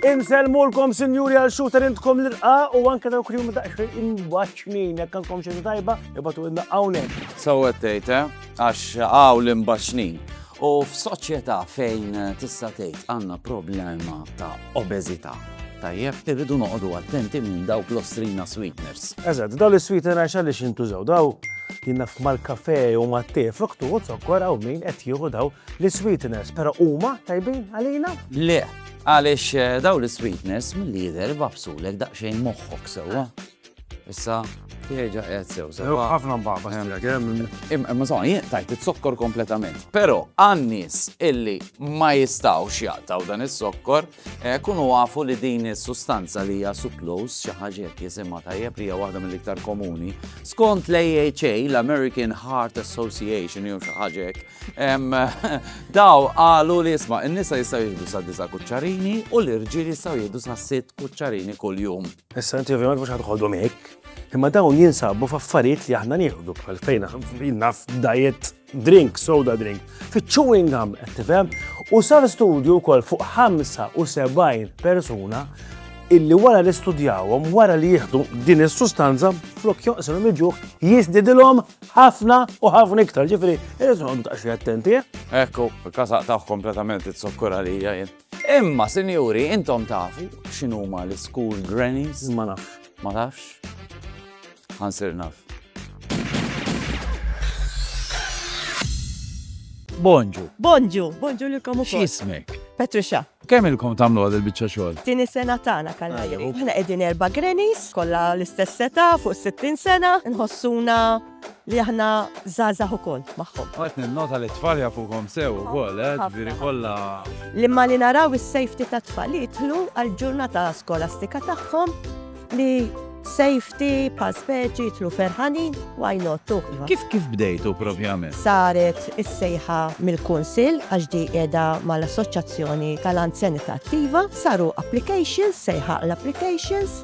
Inselmulkom sinjuri għal xooter intkom l-irqa u anke dawk li huma daqsxejn imbaċċnin jekk għandkom xi tajba ibatu inna hawnhekk. Sewwa tgħid, eh? Għax hawn l-imbaċċnin. U f'soċjetà fejn tista' tgħid għandna problema ta' obeżità, tajjeb irridu noqogħdu attenti minn dawk l-ostrina sweeteners. Eżatt, dawn is-sweeteners għaliex jintużaw daw jiena mal-kafe u mat-te fruktu u zokkor hawn min qed jieħu daw l-sweeteners, però huma tajbin għalina? Le, għaliex eh, daw l-sweeteners mill-lider babsulek daqsxejn moħħok sewwa. Issa, tieġa qed sew. Ħafna mbaba stira kemm. Imma sa jien tajt it-sokkor kompletament. Però għan-nies illi ma jistgħux jaqtaw dan is-sokkor, eh, kunu għafu li din is-sustanza li hija suclose xi ħaġa jekk jisimha tajjeb li hija waħda mill-iktar komuni. Skont l-AHA, l-American Heart Association jew xi ħaġa hekk, daw qalu li isma' in-nisa jistgħu jieħdu sa disa' kuċċarini u l-irġiel jistgħu jieħdu sa sitt kuċċarini kuljum. Issa inti ovvjament mhux ħadħodhom hekk, imma dawn jinsabu f'affarijiet li aħna nieħdu bħal fejn naf diet drink, soda drink, fiċ-chewing gum qed tifhem u sar studju wkoll fuq 75 persuna illi wara li studjawhom wara li jieħdu din is-sustanza flok joqsilhom iġuħ jiżdidilhom ħafna u ħafna iktar. Ġifieri, irid noqgħodu taqxi attenti. Eh? Ekku, kasaq taħ kompletament it-sokkura li jien. Imma sinjuri, intom tafu x'inhuma l-school grannies? Ma nafx. Ma tafx? Ħansir naf. Bonġu. Bonġu. Bonġu lilkom ukoll. X'ismek? Patricia. Kemm ilkom tagħmlu għad il-biċċa xogħol? Tieni sena tagħna kalli. Aħna qegħdin erba' grannies, kollha l-istess seta' fuq 60 sena, nħossuna li aħna żgħażagħ ukoll magħhom. Qed ninnota li t-tfal jafukhom sew ukoll, eh, ġifieri kollha. L-imma li naraw is-safety tat-tfal li jidħlu għall-ġurnata skolastika tagħhom li safety bħal speċi jidħlu ferħanin why not tu. Kif kif bdejtu propjament? Saret is-sejħa mill-Kunsill għax di qiegħda mal-Assoċjazzjoni tal-Anzjanità Attiva, saru applications, sejħa l-applications,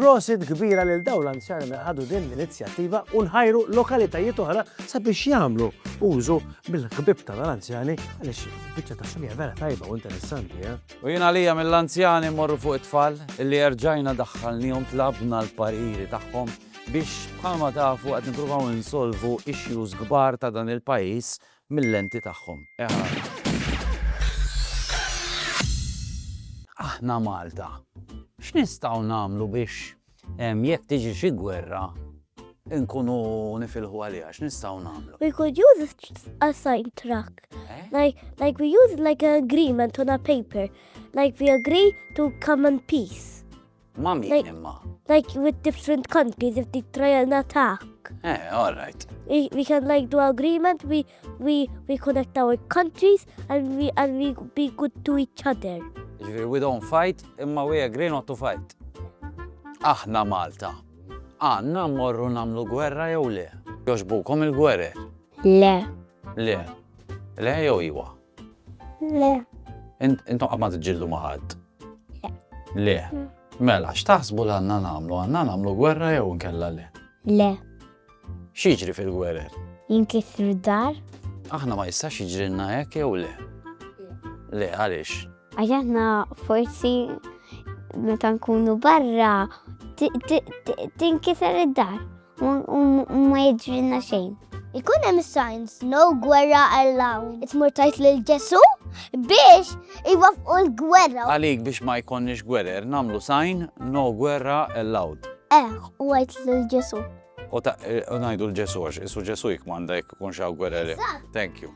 Prosit kbira lil dawn l-anzjani li ħadu din l-inizjattiva u nħajru lokalitajiet oħra sabiex jagħmlu użu mill-ħbib ta' l-anzjani għaliex biċċa ta' xogħol vera tajba u interessanti. Eh? U jien għalija mill-anzjani morru fuq it-tfal li erġajna daħħalnihom tlabna l-pariri tagħhom biex bħalma tafu qed nippruvaw insolvu issues kbar ta' dan il-pajjiż mil-lenti tagħhom. Aħna Malta, x'nistgħu nagħmlu biex jekk tiġi xi gwerra nkunu nifilħu għaliha? X'nistgħu nagħmlu? We could use a sign truck. Like, like we use like an agreement on a paper. Like we agree to come in peace. Ma' min Like- imma? Like with different countries if they try an attack. Eh, all right. We, we can like do agreement, we, we, we connect our countries and we, and we be good to each other. Ġifieri we don't fight imma we agree not to fight. Aħna Malta. Għanna morru namlu gwerra jew le? Joġbukom il-gwerer? Le. Le. Le jew iwa? Le. Intom qatt ma tiġġieldu ma' ħadd? Le. Le. Mm. Mela, x'taħsbu l għandna nagħmlu? Għandna nagħmlu gwerra jew nkella le? Le. X'jiġri fil-gwerer? Jinkisru dar. Aħna ma jistax jiġrilna hekk jew le? Le, għaliex? Għax aħna forsi meta nkunu barra tinkiser id-dar. u ma jidrinna xejn. Ikun hemm signs no gwerra allowed. Itmur tajt lil Ġesu biex iwaffqu l-gwerra. Għalik biex ma jkonniex gwerer nagħmlu sign no gwerra allowed. Eh, u għajt lil Ġesu. U eh, ngħidu l-Ġesu għax isu Ġesu jikmanda jekk ikun xaw gwerer. Thank you.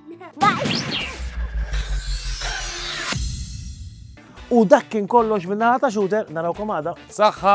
U dak kien kollox minna ħata xuter, narawkom għada. Saħħa!